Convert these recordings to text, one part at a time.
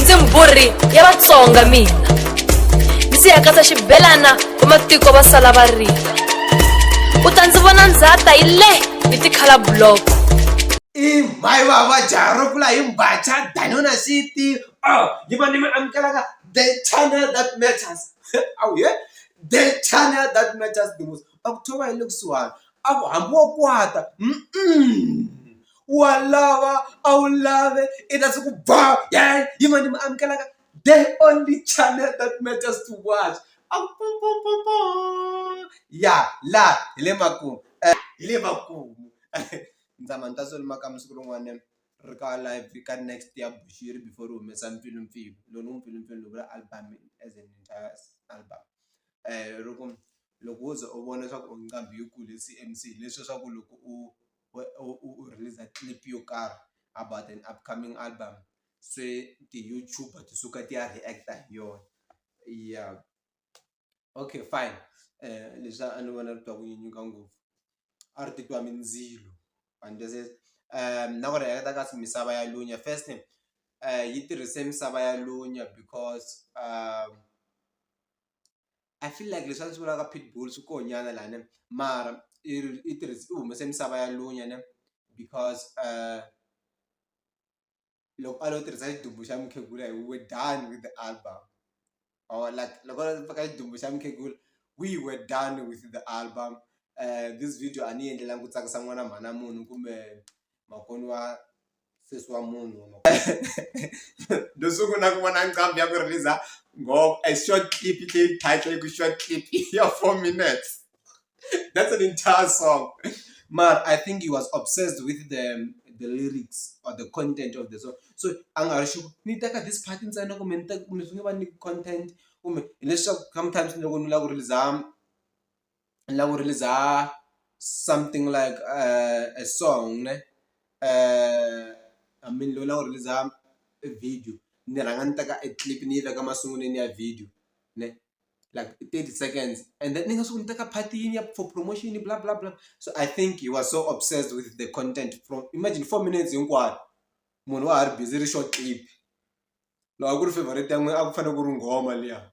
ndzi mbhurhi ya vatsonga mina ndzi ya katsa xibelana vamatiko va sala va rila u ta ndzi vona ndzhata yi le hi tikhala buloko i mhayi vava jaro kula hi mbacha danona city oh ni va ni mi amukelaka the channel that matters awu he the channel that matters the most a ku thova hi le kusuhana a ku hambi wo kwata wa lava a wu lave i ta se ku ba yeyi hi mani ni mi amukelaka the only channel that matters to watch ya laha hi le makumu hi le makumu ni tshama ni ta swi ri makaya siku rin'wana ri ka live ka next ya Bushiri before ri humesa Mpfilumpfilu lowu ni n'wi mpfilumpfilu ni vula album as an entire album ri ku loko wo ze u vona swa ku nqambi yi kule C_M_C leswiya swa ku loko u. u release-a clip yo karhi about an upcoming album se ti-YouTube ti suka ti ya react hi yona ya okay fine leswi a ni vona ri twa ku nyanyuka ngopfu a ri titwa mindzilo na ku react-a ka misava ya lunya first name yi tirhise misava ya lunya because . I feel like leswi a ndzi swi vulaka pitbull swi koho nyana la ne mara i i tirhisa i humese misava ya lunya ne because loko a lo tirhisa xidumbu xa mukhegula hi we done with the album or like loko a lo teka xidumbu xa mukhegula we we done with the album this video a ni yi endlelanga ku tsakisa n'wana mhana munhu kumbe. makoni wa sesi wa munhu ndo sungula ku vona nqambi ya ku release ngoba a short clip leyi title ku short clip ya four minutes that's an entire song mar i think he was obsessed with the the lyrics or the content of the song so a nga ri xi ni teka this part ntsena kumbe ni teka kumbe swi nge va ni content kumbe hileswaku sometimes loko ni lava ku release la ku release something like a song ne I mean lowu la wu release e video ni rhanga ni teka e clip ni yi veka masungulweni ya video ne like i thirty seconds and then ni nga swi ku ni teka part yini ya for promotion bla bla bla so I think he was so obsessed with the content from imagine four minutes hinkwayo munhu wa ha ri busy ri xo clip loko a ku ri favourite ya n'wina a ku fanele ku ri nghoma liya.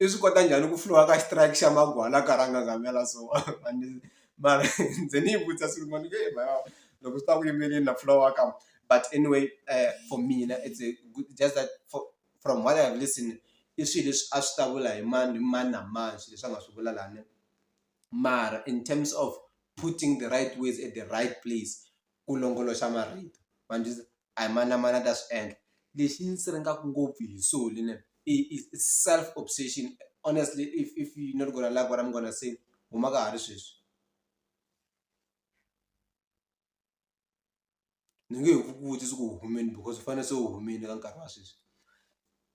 i swi kota njhani ku fihliwa ka strike xa magwala a karhi a nghagamela so mara ndzi ni yi vutisa siku rin'wana ni ku heyi loko swi ta ku yimeleni na fihliwa wa ka but anyway for mina it's a good just that for from what I have listen i swi leswi a swi ta vula hi mani hi mani na mani swi leswi a nga swi vula lani mara in terms of putting the right words at the right place ku longoloxa marito ma ni . a hi mani na mani a ta swi endla lexi ni ndzi rhandzaka ngopfu hi swo lena i self obsession honestly if if you not gonna like what I'm gonna say huma ka ha ri sweswi ni nge he ku vutisi ku u humini because u fanele se u humini ka nkarhi wa sweswi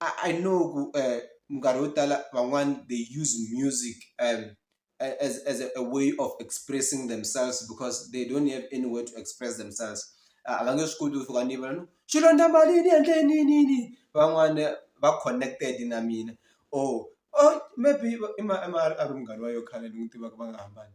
I know ku eh, minkarhi yo tala van'wani they use music um, as, as a, a way of expressing themselves because they don't have any way to express themselves ah, a va nge swi koti ku fika ni vona no xilondza mali ni endle ninini van'wani va connected na mina or oh, oh maybe i ma a ri munghana wa yo khale ni n'wi tivaka va nga hambani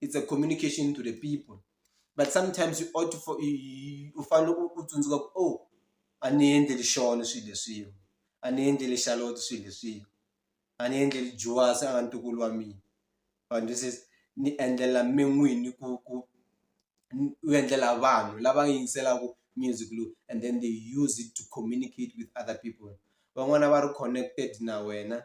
it's a communication to the people but sometimes you ought to for u fanele u tsundzuka ku o oh, a ni endleli xona swilo leswiwa a ni endleli xaloto swilo leswiwa a ni endleli juwasi a nga ntukulu wa mina vanhu this is ni endlela mi n'wini ku ku u endlela vanhu lava yingiselaka music lowu and then they use it to communicate with other people van'wana va ri connected na wena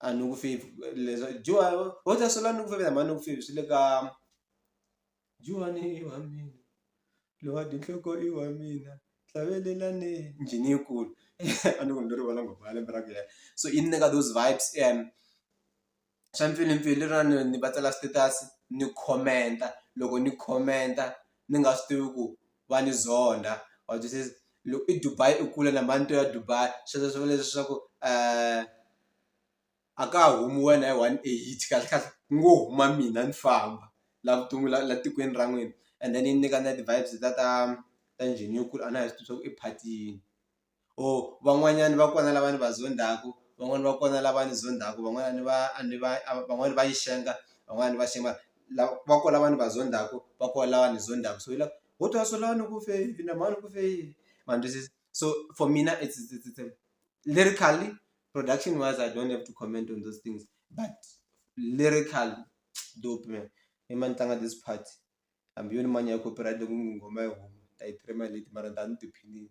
a ni ku fevhi leswa dyiwa ho ta swela ni ku fevha mhani ni ku fevha swi le ka dyiwani i wa mina loyi wa dyi nhloko i wa mina hlavelelani njhini yi kulu a ni ku ni lo rivala nghoma ya lembe ra ku so yi ni nyika those vibes and swa mpfilumpfilu leriya ni va tsala status ni comment-a loko ni comment-a. ni nga swi tivi ku va ni zonda wa twisisa loko i Dubai i kule na manto ya Dubai sweswo swi vula leswaku a ka ha humi wena hi one eight kahle kahle ku ngo huma mina ni famba la vuton'wini la la tikweni ra n'wina and then yi nyika na ti-vibes ta ta ta njhini yo kula a na ha swi tivi swa ku i phatiyini. or van'wanyana va kona lava ni va zondhaku van'wani va kona lava ni zondhaku van'wana ni va a ni va van'wani va yi xenga van'wani va xenga lava va ko lava ni va zondhaku va ko lava ni zondhaku so hi la ho twa so lani ku fe yini na mhani ku fe yini ma ni twisisa so for mina it's it's it's lyrically production wise I don't have to comment on those things but lyrical dope man i ma ni tlanga this part. hambi yo ni man'wani ya copyright loko nghoma yi huma ni ta yi trimmer hi late mara ni ta va ni tiphinile.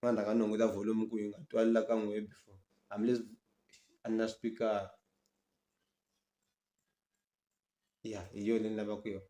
A ni rhanga ni hunguta volume ku yi nga twali la ka n'wehe before hambileswi a ni na xipikara ya hi yona leyi ni lavaka yona.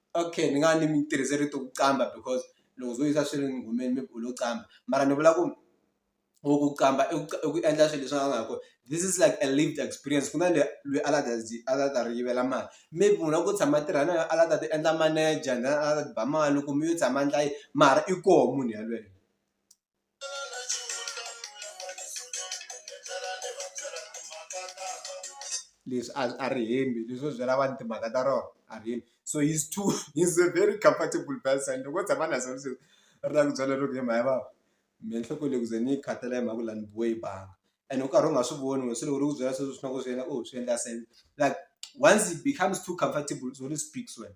Okay ni nga ni mi tirhise rito ku qambha because loko swo yisa swi ri nghomeni maybe u lo qambha mara ni vula ku or ku qambha i ku i ku endla swilo leswi a nga ha kona this is like a lived experience ku na le lweyi a la ta zi a la ta ri yivela mali maybe munhu wa ku tshama a tirha na yo a la ta ti endla manager then a la ta ti ba mali loko mi yo tshama ndla yi mara i koho munhu yalweyo. leswi a a ri hembi leswo byela vanhu timhaka ta rona a ri hembi so he's too he's a very comfortable person loko tshama na swona sweswi ri lava ku byela loko hi mhani vava mehe nhloko leyi ku ze ni yi khathala hi mhaka ku la ni biwe hi banga and u karhi u nga swi voni wena se loko ri ku byela sweswo swi na ku swi yena u swi endla sense like once it becomes too comfortable u speaks wena.